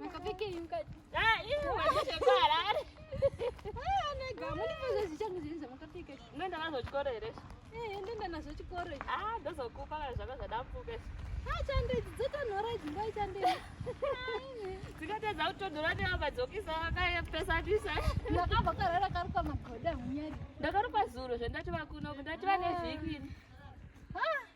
Makafikei mkati? Ah, hiyo waje kwa harare. Ah, nega, mimi ndio zichangu zinza makafika. Nenda nazo chikoro ere? Eh, nenda nazo chikoro. Ah, ndozo kupa kana zvaka zvadambuka. Ah, chande dzota nora dzimba chande. Dzikatadza kutodora neamba dzokisa vakaye pesa disa. Ndakabva karara karuka magoda munyari. Ndakaruka zuro zvendati vakuno, ndati vane vhiki. Ah,